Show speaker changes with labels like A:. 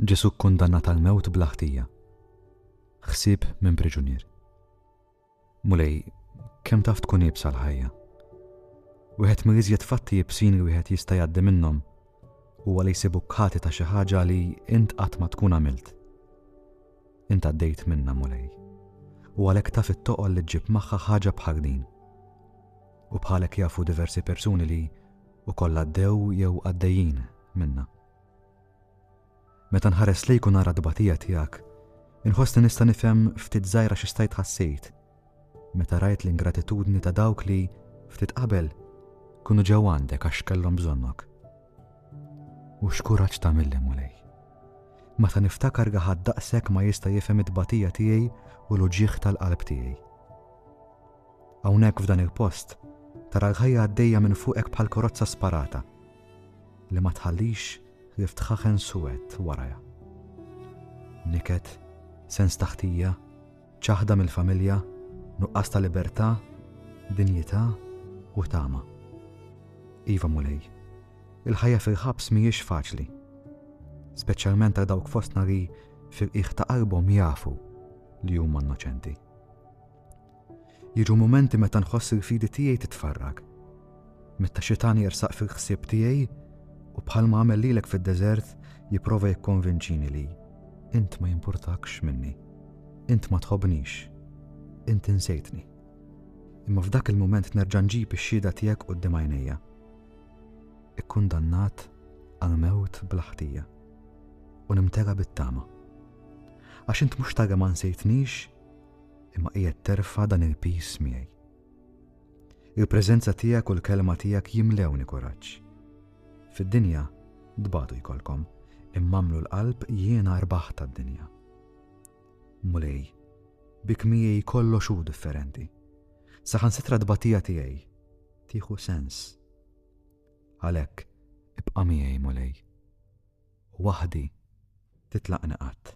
A: Ġesù kkundannat għall-mewt bla ħtija. Ħsieb minn priġunier. Mulej, kemm taf tkun iebsa l-ħajja! Wieħed mill-iżjed fatti iebsin li wieħed jista' jgħaddi minnhom huwa li jsibuk ħati ta' xi ħaġa li int qatt ma tkun għamilt. Int għaddejt minnha Mulej. U għalhekk taf it-toqol li ġġib magħha ħaġa bħal din. U bħalek jafu diversi persuni li u kollha għaddew jew għaddejjin minna. Meta nħares lejk u nara t-tbatija tiegħek, inħossni nista' nifhem ftit żgħira xi stajt ħassejt meta rajt l-ingratitudni ta' dawk li, ftit qabel, kunu ġew għandek għax kellhom bżonnok. U x'kuraġġ tagħmilli mulej. Meta niftakar gaħad daqshekk ma jista' jifhem it-tbatija tiegħi u l-uġieħ tal-qalb tiegħi. Hawnhekk f'dan il-post, tara l-ħajja għaddejja minn fuqek bħal korozza sparata, li ma tħallix ħlief tħaħen suwed warajha. Niket, sens ta' ħtija, ċaħda mill-familja, nuqqas ta' libertà, dinjità u tama. Iva Mulej, il-ħajja fil-ħabs mhijiex faċli. Speċjalment għal dawk fostna li fil-qiegħ ta' qalbhom jafu li huma innoċenti. Jiġu mumenti meta nħoss il-fidi tiegħi titfarrak. Meta xitan jersaq fil-ħsieb tiegħi u bħalma għamel lilek fid-deżert jipprova jikkonvinċini li int ma jimpurtakx minni, int ma tħobnix, int insejtni. Imma f'dak il-mument nerġa' nġib ix-xhieda tiegħek quddiem għajnejja. Ikkundannat għal mewt bla ħtija u nimtera bit-tama. Għax int mhux tara ma nsejtnix imma qiegħed terfa' dan il-piż miegħi. Il-preżenza tiegħek u l-kelma tiegħek jimlewni kuraġġ. Fid-dinja tbatu jkollkom, imma għamlu l-qalb jiena rbaħ tad-dinja. Mulej, bik miegħi kollox hu differenti. Saħan sitra tbatija tiegħi tieħu sens. Għalhekk ibqa' miegħi mulej. Waħdi titlaqni qatt.